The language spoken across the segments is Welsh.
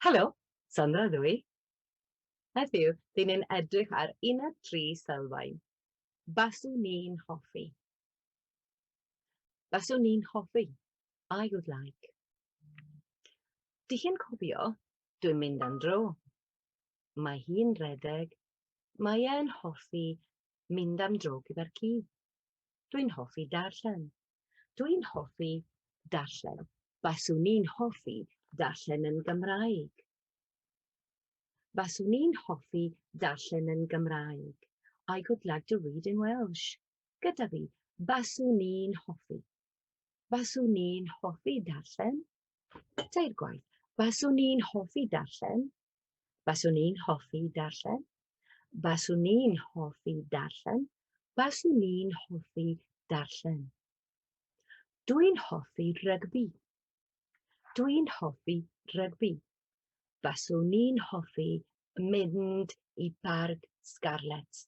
Helo, Sandra ydw i. Heddiw, dyn ni'n edrych ar uned tri sylfaen. Baswn ni'n hoffi. Baswn ni'n hoffi. I would like. Dych chi'n cofio, dwi'n mynd am dro. Mae hi'n redeg. Mae e'n hoffi mynd am dro gyda'r ci. Dwi'n hoffi darllen. Dwi'n hoffi darllen. Baswn i'n hoffi darllen yn Gymraeg. Baswn i'n hoffi darllen yn Gymraeg. I would like to read in Welsh. Gyda fi, baswn i'n hoffi. Baswn i'n hoffi darllen. Teir gwaith. Baswn i'n hoffi darllen. Baswn i'n hoffi darllen. Baswn i'n hoffi darllen. Baswn i'n hoffi darllen. Dwi'n hoffi rygbi. Dwi'n hoffi rygbi. Baswn i'n hoffi mynd i barc Scarlets.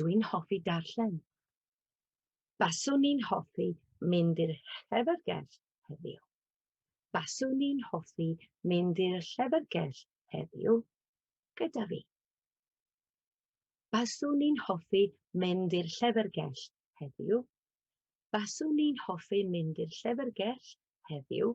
Dw i'n hoffi darllen. Baswn i'n hoffi mynd i'r llyfrgell heddiw. Baswn i'n hoffi mynd i'r llyfrgell heddiw gyda fi. Baswn i'n hoffi mynd i'r llyfrgell heddiw. Baswn i'n hoffi mynd i'r llyfrgell heddiw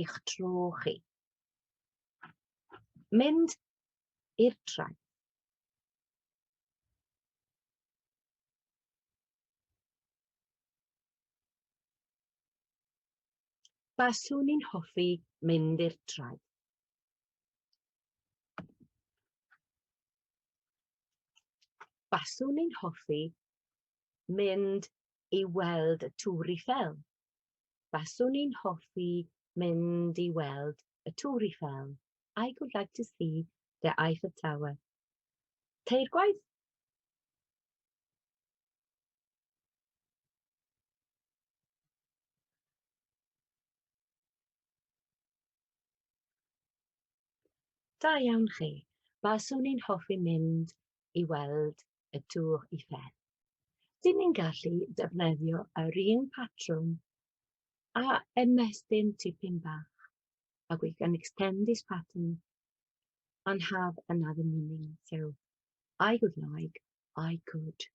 eich tro chi. Mynd i'r traeth. Baswn i'n hoffi mynd i'r traeth. Baswn i'n hoffi mynd i weld y Tŵr Eiffel. Faswn i'n hoffi mynd i weld y Tŵr Eiffel. I would like to see the Eiffel Tower. Teir gwaith. Da iawn chi. Faswn i'n hoffi mynd i weld y Tour Eiffel. Dyn ni'n gallu defnyddio yr un patrwm a ymestyn tipyn bach, a we can extend this pattern and have another meaning. So, I would like, I could.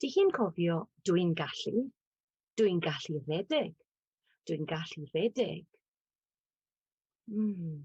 Dych chi'n cofio dwi'n gallu, dwi'n gallu redeg, dwi'n gallu redeg. Mm.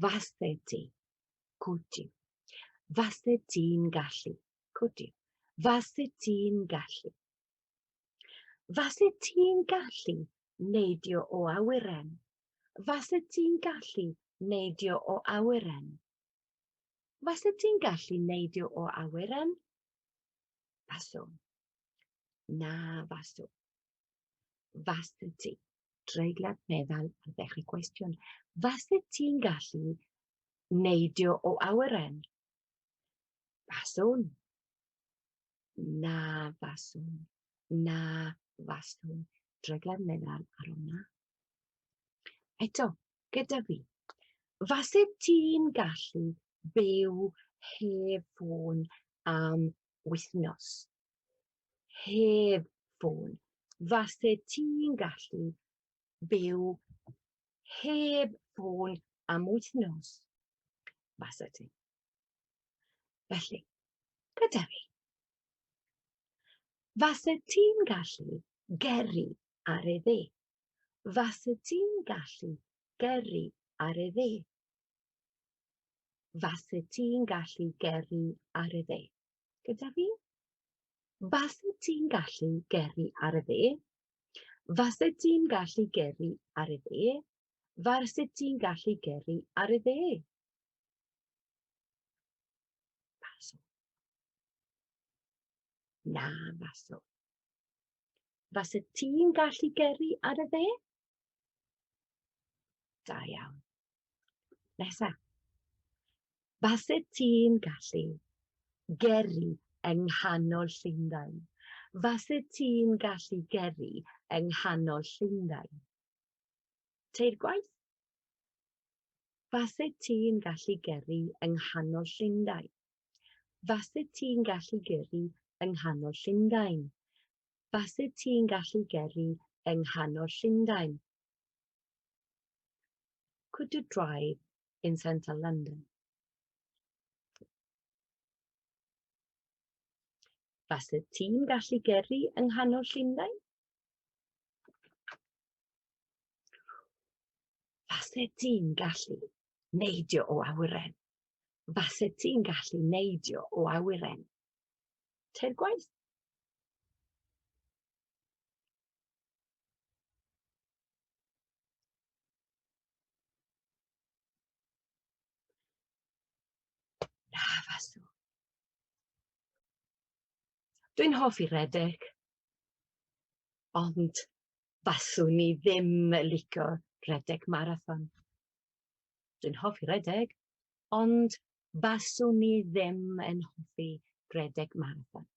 Fase ti. Could you. Fase ti'n gallu. Could you. Fase ti'n gallu. Fase ti'n gallu neidio o awyren. Fase ti'n gallu neidio o awyren. Fase ti'n gallu neidio o awyren? Faswn. Na faswn. Fase ti. treiglad meddal ar ddechrau gwestiwn. Fase ti'n gallu neidio o awyren? Faswn. Na faswn. Na faswn. Treiglad meddal ar hwnna. Eto, gyda fi. Fase ti'n gallu byw heb ffôn am wythnos? heb ffôn. Falle ti'n gallu byw heb ffôn am wythnos. Falle ti. Felly, gyda fi. Falle ti'n gallu geri ar ei dde. Falle ti'n gallu geri ar ei dde. Falle ti'n gallu geri ar ei dde. gyda fi? Faset ti'n gallu gyrru ar y dde? Faset ti'n gallu gyrru ar y dde? Faset ti'n gallu gyrru ar y dde? Faso. Na, faso. Faset ti'n gallu gyrru ar y dde? Da iawn. Nesa. Faset ti'n gallu geri yng nghanol Llundain. Faset ti'n gallu geri yng nghanol Llundain. Teir gwaith. Faset ti'n gallu geri yng nghanol Llundain. Faset ti'n gallu geri yng nghanol Llundain. Faset ti'n gallu geri yng nghanol Llundain. Could you drive in central London? Falle ti'n gallu gyrru yng nghanol Llundain? Falle ti'n gallu neidio o awyren? Falle ti'n gallu neidio o awyren? Teir gwaith. Dwi'n hoffi redeg, ond faswn i ddim yn licio redeg marathon. Dwi'n hoffi redeg, ond faswn i ddim yn hoffi redeg marathon.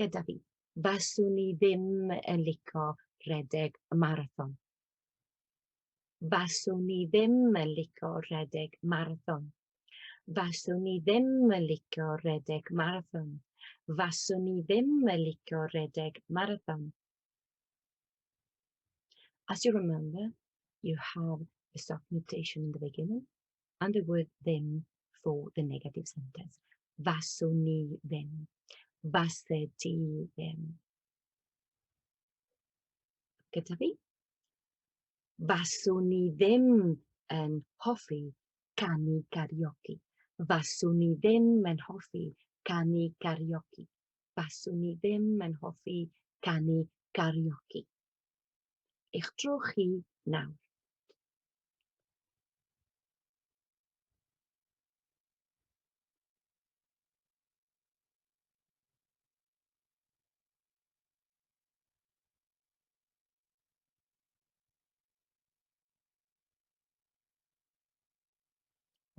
gyda fi. Faswn i ddim yn lico rhedeg y marathon. Faswn i ddim yn lico rhedeg marathon. Faswn i ddim yn lico rhedeg marathon. Faswn i ddim yn lico rhedeg marathon. As you remember, you have the soft mutation in the beginning and there were ddim for the negative sentence. Faswn ni ddim. Fase di ddim. Gyda fi? Faswn ni ddim yn hoffi canu karaoke. Faswn ni ddim yn hoffi canu karaoke. Faswn ni ddim yn hoffi canu karaoke. Eich tro chi nawr.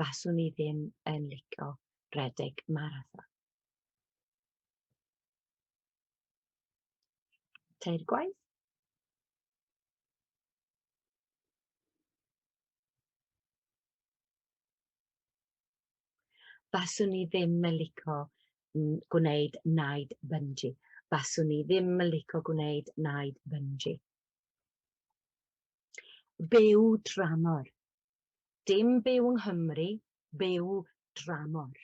faswn i ddim yn licio rhedeg marathon. Teir gwaith. Faswn i ddim yn lico gwneud naid bynji. Faswn i ddim yn lico gwneud naid bynji. Byw dramor. Dim byw yng Nghymru, byw dramor.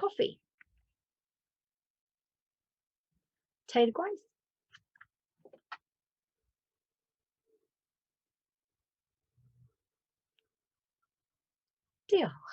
Coffi. Tair gwaith. Diolch.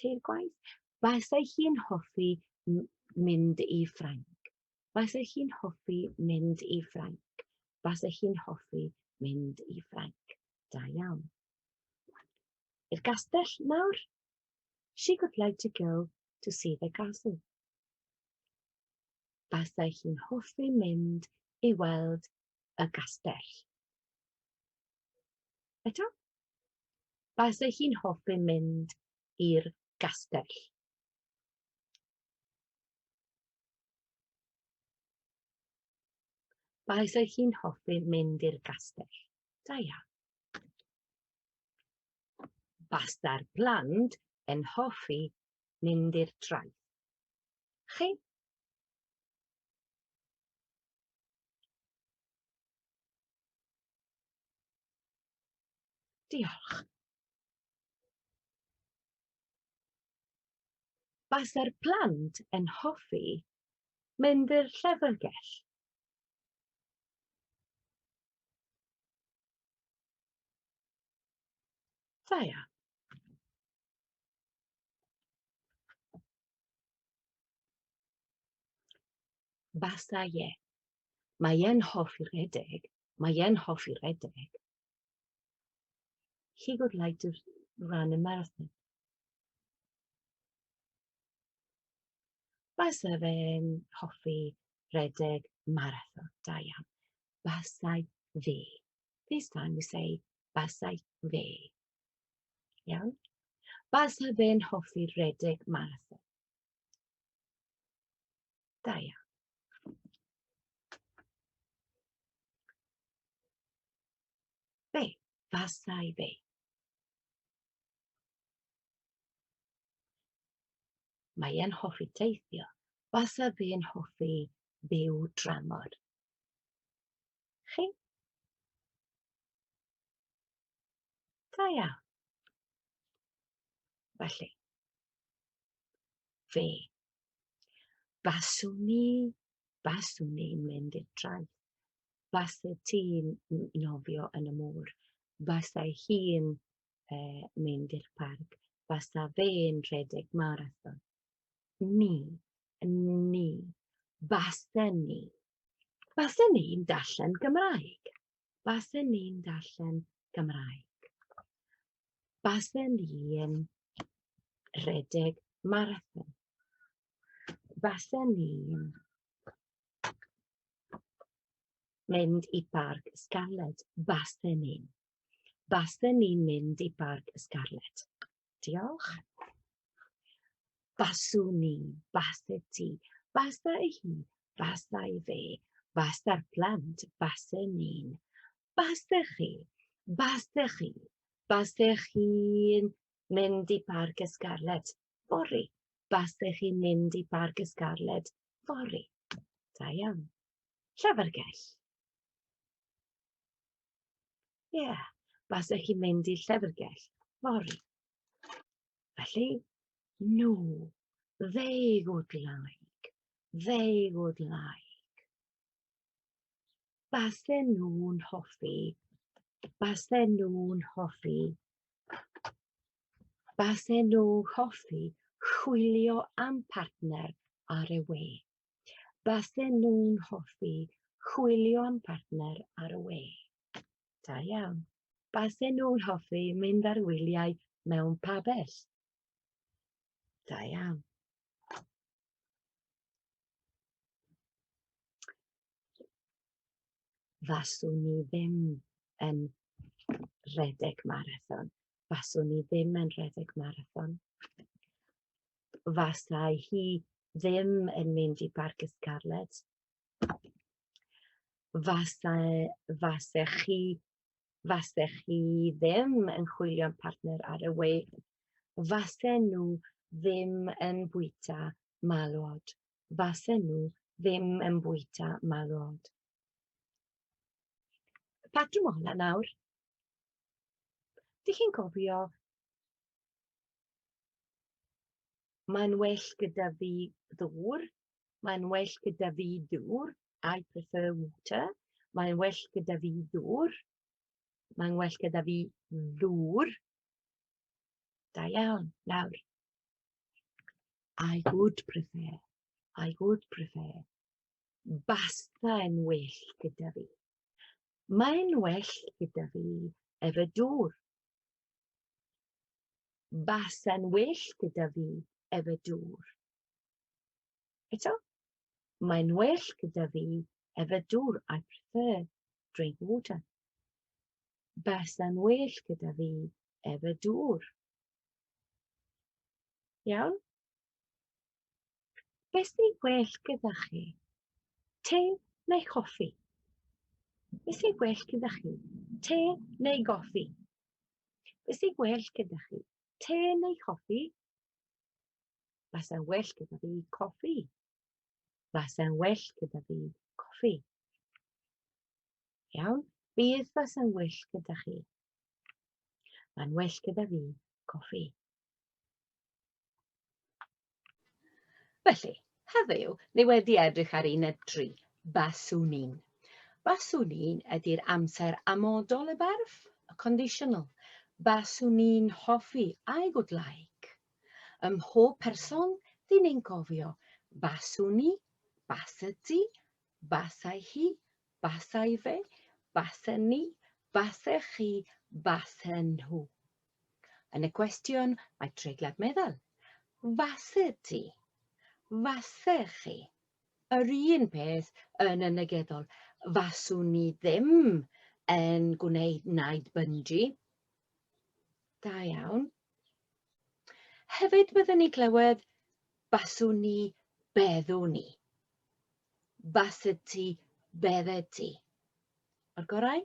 teir gwaith. Basai hi'n hoffi mynd i Ffrainc. Basai hi'n hoffi mynd i Ffrainc. Basai hi'n hoffi mynd i Ffrainc. Da iawn. I'r gastell nawr. She would like to go to see the castle. Basai hi'n hoffi mynd i weld y gastell. Eto, Base hi'n hoffi mynd i'r gastell. Base hi'n hoffi mynd i'r gastell. Da iawn. Base'r plant yn hoffi mynd i'r traeth. Chi? Diolch. Base'r plant yn hoffi mynd i'r llyfrgell. Da iawn. Basta ie. Mae e'n hoffi rhedeg Mae e'n hoffi redeg. He would like to run a marathon. Base fe'n hoffi redeg marathon. Da iawn. Basai fe. This time we say basai fe. Iawn? Base fe'n hoffi redeg marathon. Da iawn. Be? Fasai be? Mae e'n hoffi teithio. Fasa fe'n hoffi byw dramor. Chi? Da iawn. Felly, fe Baswn ni, baswn ni'n mynd i'r traeth. Basau ti'n nofio yn y môr. Basau hi'n e, mynd i'r parc. Basa fe'n rhedeg marathon. Ni, ni, basa ni. Basa ni'n darllen Gymraeg. Basa ni'n darllen Gymraeg. Basen i'n rhedeg marathon. Basen i'n mynd i Barc Scarlett. Basen i'n. Basen i'n mynd i Barc Scarlett. Diolch. Baswn i, baset ti, basa i hi, basa i fe, basa'r plant, basen i'n. Basech chi, basech chi, basech chi'n mynd i Barc y Scarlet fory. Basech chi'n mynd i Barc y Scarlet fory. Da iawn. Llyfrgell. Ie, yeah. basech chi'n mynd i llyfrgell fory. Felly, nhw, they would like, they would like. Basen nhw'n hoffi. Basen nhw'n hoffi. Basen nhw hoffi chwilio am partner ar y we. Basen nhw'n hoffi chwilio am partner ar y we. Da iawn. Basen nhw'n hoffi mynd ar wyliau mewn pabell. Da iawn. faswn ni ddim yn rhedeg marathon. Faswn ni ddim yn rhedeg marathon. Fasai hi ddim yn mynd i Barc y Scarlet. Fasai, fasech chi fasech chi ddim yn chwilio'n partner ar y we, fasen nhw ddim yn bwyta malwod, fasen nhw ddim yn bwyta malwod. Y patrwm o hwnna nawr, dych chi'n cofio, mae'n well gyda fi ddŵr, mae'n well gyda fi dŵr, I prefer water. Mae'n well gyda fi ddŵr. Mae'n well gyda fi ddŵr. Da iawn. Nawr. I would prefer. I would prefer. Basta yn well gyda fi. Mae'n well gyda fi efo dŵr. Basa'n well gyda fi efo dŵr. Eto, mae'n well gyda fi efe dŵr, I prefer drink water. Basa'n well gyda fi efe dŵr. Iawn? Beth sy'n well gyda chi? Te neu coffi? Beth sy'n well gyda chi? Te neu goffi? Beth sy'n well gyda chi? Te neu coffi? Fasai'n well gyda fi coffi. Fasai'n well gyda fi coffi. Iawn, bydd fasai'n well gyda chi. Mae'n well gyda fi coffi. Felly, Heddiw, ni wedi edrych ar un ebdri, baswn i'n. Baswn i'n ydy'r amser amodol y berf, y conditional. Baswn i'n hoffi, I would like. Ym mhob person, dyn ni'n cofio, baswn i, basa ti, basai hi, basai fe, basen ni, basech chi, basen nhw. Yn y cwestiwn mae treiglad meddal. Faset ti. Fase chi. Yr un peth yn y negyddol. Faswn ni ddim yn gwneud naid bynji. Da iawn. Hefyd byddwn ni clywed baswn ni, beddwn ni. Baset ti, beddet ti. O'r gorau?